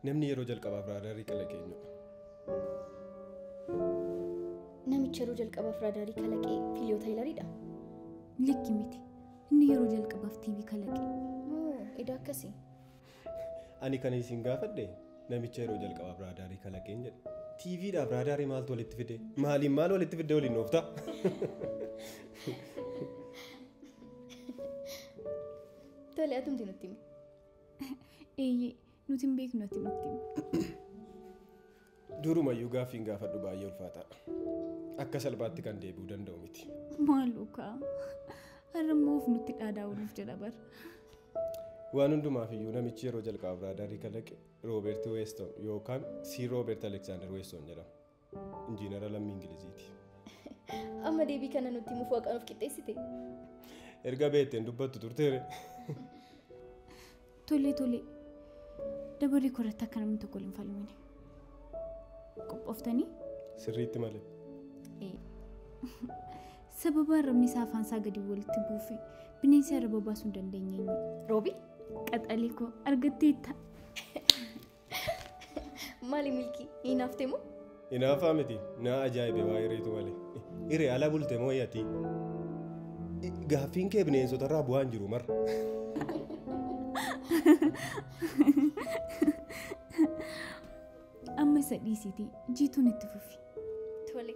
Namni yeroo jalqabaaf raadaarii kalaqe eenyudha? Namichi yeroo jalqabaaf raadaarii kalaqe Filiyoo Taayilariidha. Likki miti. Inni yeroo jalqabaaf TV kalaqe. Moo edaa akkasii? Ani kan isin gaafadhe namicha yeroo jalqabaaf raadaarii kalaqeen jedhe. TV dhaaf raadaarii maaltu walitti fide? Maaliin maal walitti fidde waliin noofta? Tole atumti nutti himi. Eeyyee nuti hin beeknu ati nutti himi. Durumayyuu gaaffiin gaafadhu baay'ee ulfaataa. Akka salphaatti kan deebi'u danda'u miti. Maaloo kaa har'a immoo of nutti dhaadaa'uuf jedha bar. Waan hundumaaf iyyuu namichi yeroo jalqabaaf raadaarii kalaqe Roobeert Weeston yookaan Sii Roobeert Aleksaandar Weeston jedhama. Injiinara lammii Ingiliziiti. Amma deebii kana nutti himuuf waaqaan of qixxeessite. Erga beekteen dubbattu turteere. Tole tole. Dabaree koo irratti akka namni tokko waliin falmine. Qophooftanii? Sirriitti malee. Ee. Sababa arrabni isaa afaan isaa gadi walitti buufe bineensi arraba baasuu hin dandeenye. Roobi? Qaxalee koo argatteetta. Maali milkii hin haftee moo? Inaafaa miti naa ajaa'ibe waa hiriitu malee. Hiree ala bulte moo yatii? Gaaffiin kee bineensota irraa bu'aan jiru marra. Amma isa dhiisiitii jiituun itti fufi. Tole